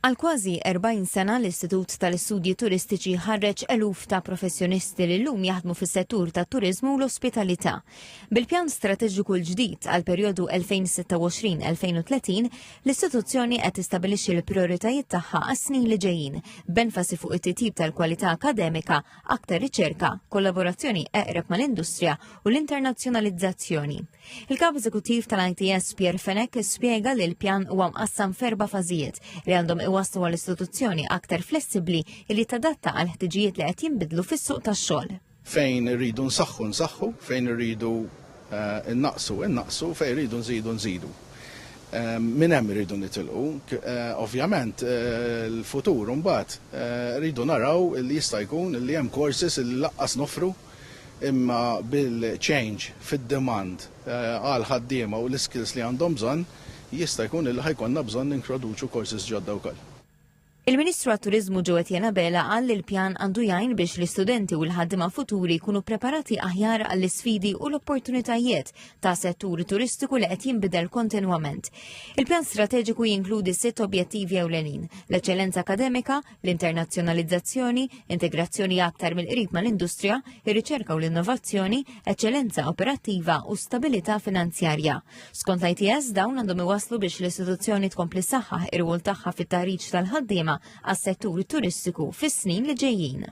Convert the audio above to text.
Għal kważi 40 sena l-Istitut tal-Istudji Turistiċi ħarreġ eluf ta' professjonisti li llum jaħdmu fis-settur tat-turiżmu u l-ospitalità. Bil-pjan strateġiku l-ġdid għal perjodu 2026-2030, l-istituzzjoni qed tistabilixxi l-prijoritajiet tagħha għas-snin li ġejjin, b'enfasi fuq it-titjib tal-kwalità akademika, aktar riċerka, kollaborazzjoni eqreb mal-industrija u l-internazzjonalizzazzjoni. Il-Kap Eżekuttiv tal-ITS Pierre Fenek spjega li l-pjan huwa mqassam ferba fażijiet li għandhom iwaslu għal istituzzjoni aktar flessibbli li tadatta għal ħtiġijiet li qed jinbidlu fis-suq tax-xogħol. Fejn irridu nsaħħu nsaħħu, fejn irridu eh, innaqsu innaqsu, fejn irridu nżidu nżidu. Eh, Min hemm irridu nitilqu, eh, ovvjament l-futur mbagħad rridu naraw li jista' jkun li hemm courses li laqqas nofru imma bil-change fid-demand għall-ħaddiema u l-iskills li għandhom bżonn, jista' jkun illi ħa jkollna bżonn nintroduċu courses ġodda wkoll. Il-Ministru għat-Turiżmu Joe Etienne Abela qal li l-pjan għandu jgħin biex l-istudenti u l-ħaddiema futuri jkunu preparati aħjar għall-isfidi u l-opportunitajiet ta' settur turistiku li qed jinbidel kontinwament. Il-pjan strateġiku jinkludi sitt objettivi ewlenin, l-eċċellenza akademika, l-internazzjonalizzazzjoni, integrazzjoni aktar mill-qrib mal-industrija, ir-riċerka u l-innovazzjoni, eċċellenza operattiva u stabilità finanzjarja. Skont l-ITS dawn għandhom iwaslu biex l-istituzzjoni tkompli saħħaħ ir-rwol tagħha fit-taħriġ tal-ħaddiema għas-settur turistiku fis-snin li ġejjin.